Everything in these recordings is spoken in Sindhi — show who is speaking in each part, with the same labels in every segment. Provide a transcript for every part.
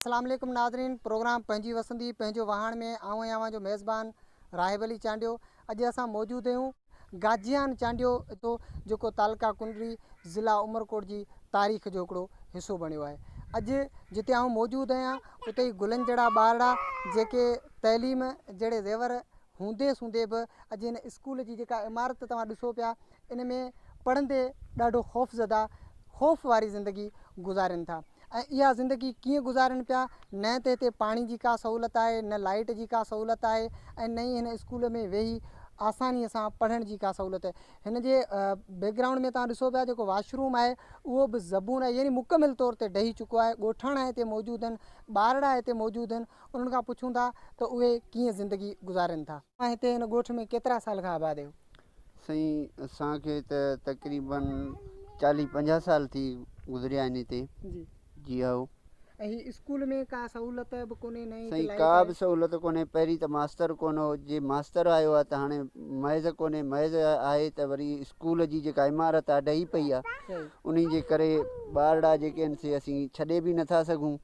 Speaker 1: اسلام عليڪم ناظرين پروگرام پنهنجي وسندي پنهنجو واهڻ ۾ آئون ۽ اوهان جو ميزبان راهب علي چانڊيو اڄ اسان موجود اهيون گاجيان چانڊيو اتو جيڪو تعلقه ڪنري ضلع عمرڪوٽ جي تاريخ جو هڪڙو حصو بڻيو آهي اڄ جتي آئون موجود اهيان اتي ئي گلن جهڙا ٻارڙا جيڪي تعليم جهڙي زيور هوندي سوندي به اڄ ان اسڪول جي جيڪا عمارت توهان ڏسو پيا ان ۾ پڙهندي ڏاڍو خوفزده خوف واري زندگي گذارين ٿا ۽ اها زندگي ڪيئن گذارين پيا نه ته هتي پاڻي جي ڪا سهولت آهي نه لائيٽ جي ڪا سهولت آهي ۽ نه ئي هن اسڪول ۾ ويهي آساني سان پڙهڻ جي ڪا سهولت آهي هن جي بيڪ گرائونڊ ۾ توهان ڏسو پيا جيڪو واش روم آهي اهو به زبون آهي يعني مڪمل طور تي ڊهي چڪو آهي ڳوٺاڻا هتي موجود آهن ٻارڙا هتي موجود آهن انهن کان پڇون ٿا ته اهي ڪيئن زندگي گذارين ٿا هتي هن ڳوٺ ۾ ڪيترا سال کان آباد آهيو سائين
Speaker 2: اسان کي ته تقريباً چاليهه پنجاهه سال ٿي گذريا آهن هتي جي جي هائو ۽ هي اسڪول
Speaker 1: ۾ ڪا سهولت به ڪونهي نه سائين ڪا به سهولت
Speaker 2: ڪونهي پهرين ته ماستر ڪونه هو جي ماستر آيو آهي ته هاڻي محض ڪونهي محض آهي ته وري اسڪول جي جيڪا عمارت آهي ڊهي پئي آهي انهي جي ڪري ٻارڙا جيڪي آهن سي اسين ڇڏي به نٿا سگهون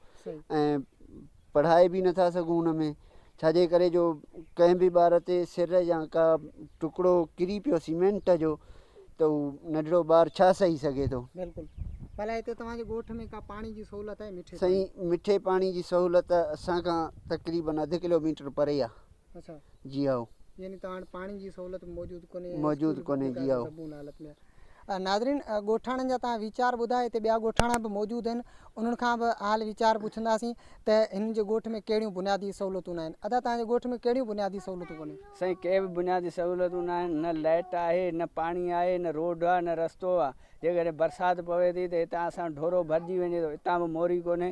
Speaker 2: ۽ پڙهائي به نٿا سگهون ان ۾ ڇا جي ڪري جو ڪنهن به ٻار تي سر يا ڪا ٽڪڙو ڪري پيو سيمينٽ جو ته هو ننڍڙو ٻار ڇا سهي سگهي ٿو بلڪل ڀلا
Speaker 1: هتي توهان جي ڳوٺ ۾ ڪا پاڻي جي سهولت آهي مٺي سائين مٺي
Speaker 2: پاڻي جي سهولت اسان کان تقريبن اڌ ڪلوميٽر پري آهي اچا جي هائو
Speaker 1: يعني
Speaker 2: توهان وٽ پاڻي
Speaker 1: جي سهولت موجود ڪونهي موجود
Speaker 2: ڪونهي جي هائو حالت ۾
Speaker 1: ناظرين ڳوٺاڻن جا توهان ويچار ٻڌا هتي ٻيا ڳوٺاڻا به موجود آهن انهن کان به حال ويچار پڇنداسين ته هنن جي ڳوٺ ۾ ڪهڙيون بنيادي سهولتون ناهن ادا توهان جي ڳوٺ ۾ ڪهڙيون بنيادي سهولتون ڪونهن. سائين ڪي به بنيادي
Speaker 3: سهولتون ناهن نه لائيٽ آهي نه پاڻي آهي نه روڊ آهي نه رستو آهي جيڪڏهن برسات پوي ٿي ته هتان اسان ڍورو ڀرجي وڃي ٿو هتان به موري ڪونهي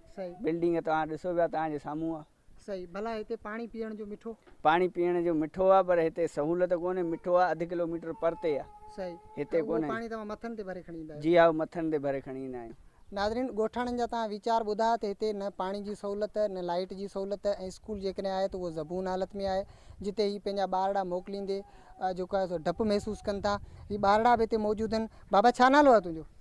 Speaker 3: صحيح. بلڊنگ توهان ڏسو پيا توهان جي سامهون آ. صحيح. ڀلا هتي
Speaker 1: پاڻي پيئڻ جو مٺو؟ پاڻي پيئڻ جو
Speaker 3: مٺو آ پر هتي سهولت ڪونهي مٺو آ اڌ ڪلو ميٽر پرتي آ. صحيح. هتي ڪونهي.
Speaker 1: اهو پاڻي توهان
Speaker 3: مٿن تي ڀري
Speaker 1: کڻي ايندا آهيو؟ جي ها اهو مٿن تي ڀري
Speaker 3: کڻي ايندا آهيون. ناظرين ڳوٺاڻن
Speaker 1: جا توهان ويچار ٻڌا ته هتي نه پاڻي جي سهولت نه لائيٽ جي سهولت ۽ اسڪول جيڪڏهن آهي ته اهو زبون حالت ۾ آهي جتي هي پنهنجا ٻارڙا موڪليندي جيڪو آهي سو ڊپ محسوس ڪن ٿا هي ٻارڙا به هتي موجود آهن بابا ڇا نالو آهي تنهنجو؟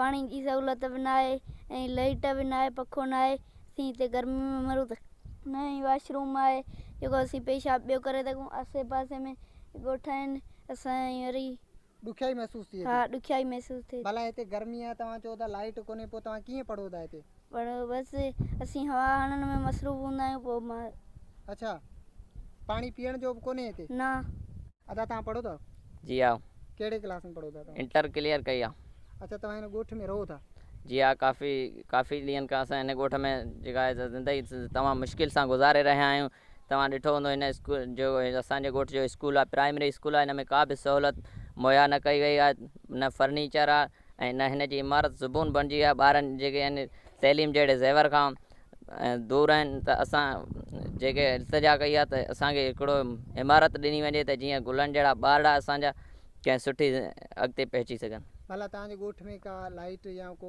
Speaker 4: پاڻي جي سهولت به ناهي ۽ لئٽ به ناهي پکو ناهي اسين هتي گرمي ۾ مرون ٿا نه ئي واش روم آهي جيڪو اسين پيشاب ٻيو ڪري سگهون آسي پاسي ۾ ڳوٺ آهن اسان جي وري ڏکيائي محسوس
Speaker 1: ٿئي ٿي ها ڏکيائي محسوس ٿئي ٿي.
Speaker 4: ڀلا هتي گرمي آهي
Speaker 1: توهان چئو ٿا لائٽ ڪونهي پوء توهان ڪيئن پڙهو ٿا هتي. پڻ بس
Speaker 4: اسين هوا هڻڻ ۾ مصروف هوندا آهيون پوء مان. اڇا
Speaker 1: پاڻي پيئڻ جو به ڪونهي هتي. نه. ادا
Speaker 4: توهان پڙهو
Speaker 1: ٿا؟ جي ها.
Speaker 5: ڪهڙي ڪلاس ۾ پڙهو
Speaker 1: ٿا توهان؟ انٽر ڪليئر ڪئي آهي.
Speaker 5: اڇا توهان هن ڳوٺ
Speaker 1: ۾ رهو ٿا؟ جي ها ڪافي
Speaker 5: ڪافي ڏينهن کان اسان هن ڳوٺ ۾ جيڪا زندگي تمام مشڪل سان گذاري رهيا آهيون توهان ڏٺو هوندو هن اسڪول جو اسان جي ڳوٺ جو اسڪول آهي پرائمري اسڪول آهي هن ۾ ڪا به سهولت مهيا نه ڪئي وئي آهي نه فرنيچر آهي ۽ نه هن جي عمارت زبون بڻجي آهي ٻارن جيڪي آهن تعليم جهڙي زيور کان دور آهن ته اسان جيڪي التجا ڪئي آهي ته اسان کي هڪڙو عمارت ڏني وڃي ته جيئن گلن جهڙا ٻارڙا اسان جا ڪنهن سٺي اڳتي پهچي سگهن. ڀلا توهان جي ڳوٺ
Speaker 1: ۾ ڪا لائيٽ يا ڪو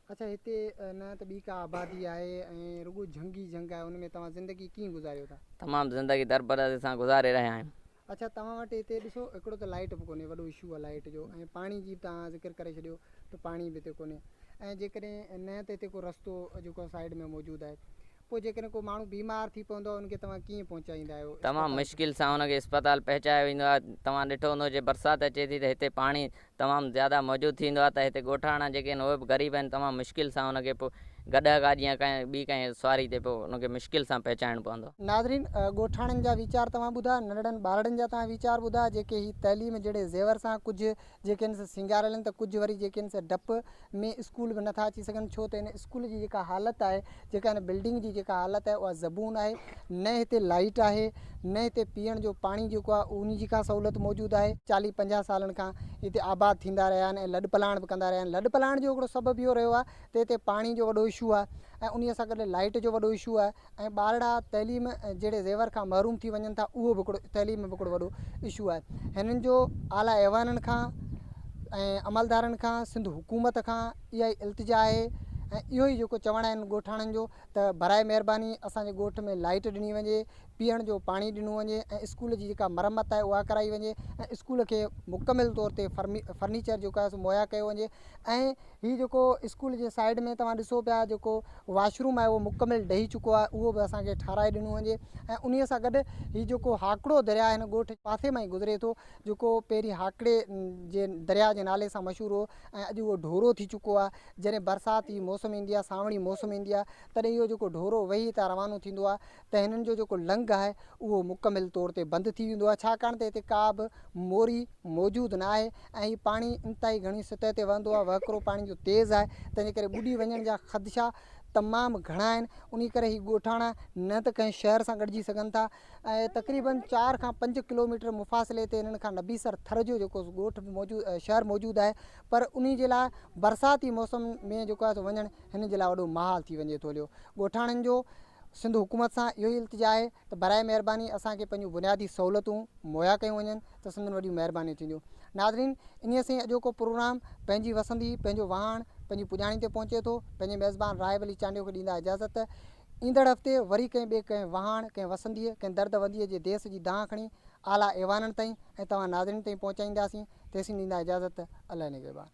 Speaker 5: اچا هتي
Speaker 1: نه ته ٻي ڪا آبادي آهي ۽ رڳو جهنگ ئي جهنگ آهي، ان ۾
Speaker 5: توهان
Speaker 1: زندگي ڪيئن گذاريو
Speaker 5: ٿا؟
Speaker 1: تمام
Speaker 5: زندگي درپردي
Speaker 1: سان
Speaker 5: گذاري
Speaker 1: رهيا آهيون. اچا توهان وٽ هتي ڏسو هڪڙو ته لائيٽ به ڪونهي وڏو اشو آهي لائيٽ جو ۽ پاڻي جي به توهان ذڪر ڪري ڇڏيو ته پاڻي به هتي ڪونهي ۽ جيڪڏهن نه ته هتي ڪو رستو جيڪو سائيڊ ۾ موجود آهي پوء جيڪڏهن ڪو ماڻهو بيمار ٿي پوندو آهي ان کي توهان ڪيئن پهچائيندا آهيو اسپتال تمام مشڪل سان ان
Speaker 5: کي اسپتال پهچايو ويندو آهي توهان ڏٺو هوندو جي برسات اچي ٿي ته هتي پاڻي تمام زياده موجود ٿيندو آهي ته هتي ڳوٺاڻا جيڪي آهن اهي به غريب آهن تمام مشڪل سان ان کي پوء گڏهه گاڏي يا ڪنهن ٻي ڪنهن سواري تي پوء ان کي مشڪل سان پهچائڻ پوندو آهي. ناظرين ڳوٺاڻن
Speaker 1: جا ويچار توهان ٻڌا ننڍڙن ٻارڙن جا توهان ويچار ٻڌا جيڪي هي تعليم جهڙي زيور سان ڪجهه جيڪي آهن سي سينگاريل آهن ته ڪجهه وري جيڪي آهن سي ڊپ ۾ اسڪول به نٿا اچي سگهن ڇو ته هن اسڪول جي جيڪا حالت آهي جيڪا هن بلڊنگ جي جيڪا حالت آهي اها زبون آهي نه هتي لائيٽ آهي نه هتي پيئڻ جو پاڻي جيڪو آهي ان جي ڪا سهولت موجود آهي. چاليهه پنجاهه سالن کان هتي آباد ٿيندا رهيا آهن ۽ لڏ پلاڻ به ڪندا رهيا آهن لڏ پلاڻ جو هڪڙو سبب اهو رهيو آهي ته هتي پاڻي جو وڏو اشو آهي ۽ انهي سان گڏ لائيٽ جو وڏو اشو آهي ۽ ٻارڙا تعليم ۽ جهڙي زيور کان محروم ٿي وڃن ٿا اهو به هڪڙو تعليم ۾ به هڪڙو وڏو اشو آهي هنن جو اعليٰ ايوانن کان ۽ عملدارن کان سنڌ حڪومت کان اها ئي التجا آهي ۽ اهو ئي جيڪو چوڻ آهن ڳوٺاڻن جو ته برائي مهرباني اسان جي ڳوٺ ۾ لائيٽ ڏني وڃي پيئڻ جو پاڻي ڏنو وڃي ۽ اسڪول جي جيڪا مرمت آهي اها ڪرائي وڃي ۽ اسڪول کي مڪمل طور تي فرمي فرنيچر جيڪو آهي سو مهيا ڪيو وڃي ۽ هي جيڪو اسڪول جي سائيڊ ۾ توهان ڏسو پيا جيڪو واش روم آهي اهو مڪمل ڊهي چڪو آهي اهو به اسان کي ٺاهرائي ڏنو وڃي ۽ انهي سان گڏ هي جيڪو هاڪڙو درياء هن ڳوٺ جي پاسي مان ئي گذري ٿو جيڪو پهرين هاڪڙي جي درياء جي نالي سان مشهور هو ۽ اڄ اهو ڍورو ٿي چڪو آهي جڏهن برسات جي موسم ايندي آهي سانوڻي موسم ايندي آهي تڏهن اهو جيڪو ڍورو وهي هتان روانو ٿيندو آهي ته هنن جو جيڪو لنگهه آهي اهو مڪمل طور تي بند ٿي ويندو آهي ڇاڪاڻ ته هتي ڪا به موري موجود نه آهي ۽ هي پاڻي انتهائي گهڻي سطح تي وهندو آهي وهڪرو پاڻي جو تيز آهي تنهنجي ڪري ٻڏي وڃڻ جا خدشا تمام گهڻا آهن انهي ڪري هي ڳوٺاڻا نه ته ڪنهن شهر سان ڳڙجي سگهن ٿا ۽ تقريباً چار کان پنج ڪلوميٽر مفاصلي تي هنن کان نبيسر ٿر جو جيڪو ڳوٺ موجود شهر موجود آهي پر انهي جي لاء برساتي موسم ۾ جيڪو آهي سو وڃڻ هنن جي لاء وڏو محال ٿي وڃي ٿو هليو ڳوٺاڻن جو سنڌ حڪومت سان اهو ئي التجا آهي ته براء مهرباني اسان کي پنهنجون بنيادي سهولتون مهيا ڪيون وڃن ته سندن وڏيون مهربانيون ٿينديون. ناظرين انهيء سين اڄوڪو پروگرام پنهنجي وسندي پنهنجو وهاڻ پنهنجي پڄاڻي تي پهچي ٿو. پنهنجي ميزبان راهب علي چانڊيو کي ڏيندا اجازت ته ايندڙ هفتي وري ڪنهن ٻئي ڪنهن وهاڻ ڪنهن وسنديء ڪنهن درد ونديء جي ديس جي دانهن کڻي اعليٰ ايوانن تائين ۽ توهان ناظرين تائين پهچائينداسين تيسين ڏيندا اجازت ته الله نگهبان.